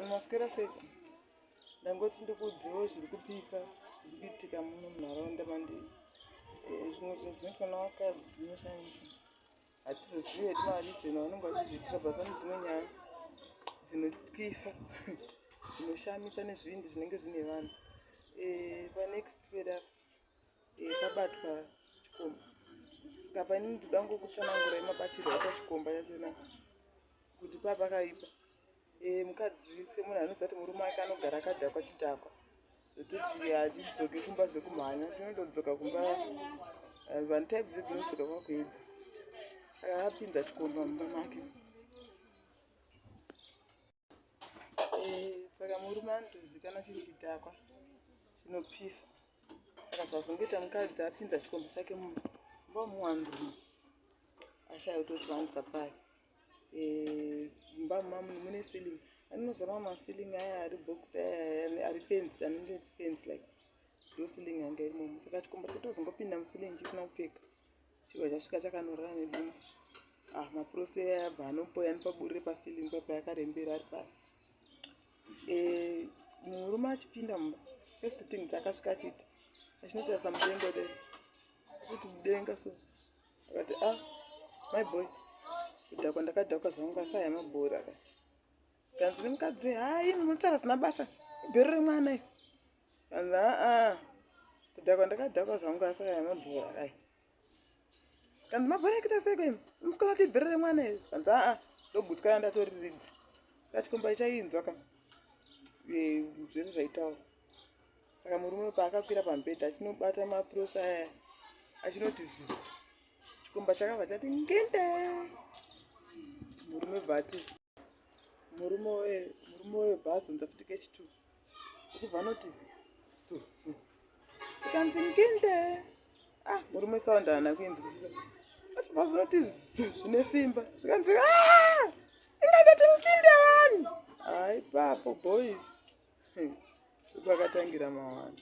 Maswera seko. Ndangoti ndikuudziwo zviri kupisa zviri kuitika muno munharaunda mandiri. Eh, zvimwe zvinhu zvinoitwa navakadzi zvinoshamisa. Hatizozive hedu marizeni vanenge vachizviitira bva pane dzimwe nyaya dzinotyisa dzinoshamisa nezvivindi zvinenge zvine vanhu. Eh, panext peda Yakabatwa chikomba. Apa ini ndinoda ngokutsanangura yemabatirwo aitwa chikomba yachona kuti paa pakaipa. Eh, mukadzi semunhu anoziva kuti murume wake anogara akadhakwa chidhakwa zvekuti hachidzoki kumba zvekumhanya chinondodzoka kumba eh, vanhu type dzidzi unodzoka kwakuedza akapinza chikomba mumba make eh, saka murume anotozikana chiri chidhakwa chinopisa saka zvazongoita mukadzi apinza chikomba chake mumba muwandumu ashaya kutozviwanisa pari eh, mumba mumamuni mune ceiling anozama maceiling aya ari box aya ari fence anenge fence like ndoceiling yanga irimomo saka chikomba chetozongopinda muceiling chisina kupfeka Chibva chasvika chakanorara nedumbu. Ah, mapurose ayabva anopoya nepaburire pasilingi paipa yakarembera ari pasi. Eh, murume achipinda mumba. First thing dzakasvika achiti. Achinoita samudengo de. Kuti mudenga so. Akati, ah, my boy. Kudhakwa ndakadhakwa zvangu asaya mabhora. Akati. Kanzi nemukadzi haa ini munotaura zina basa ibhero remwana i kanzi aa kudhakwa ndakadhakwa zvangu asi aya mabhora ayi kanzi mabhora ekita seko imi musikana kuti ibhero remwana i kanzi aa ndogutsikana ndatoriridza kachikomba ichainzwa ka zvese zvaitaura saka murume paakakwira pambedha achinobata mapurosi aya achinoti zuu chikomba chakabva chati ngende murume bvati murume webhazi unza futi kechitu achibva anoti su su sikanzi ngende ah murume sound haana kuinzwisisa achibva zvinoti zu zvine simba zvikanzi ah! ingatati nginde vanhu haipapo boys kwakatangira mawani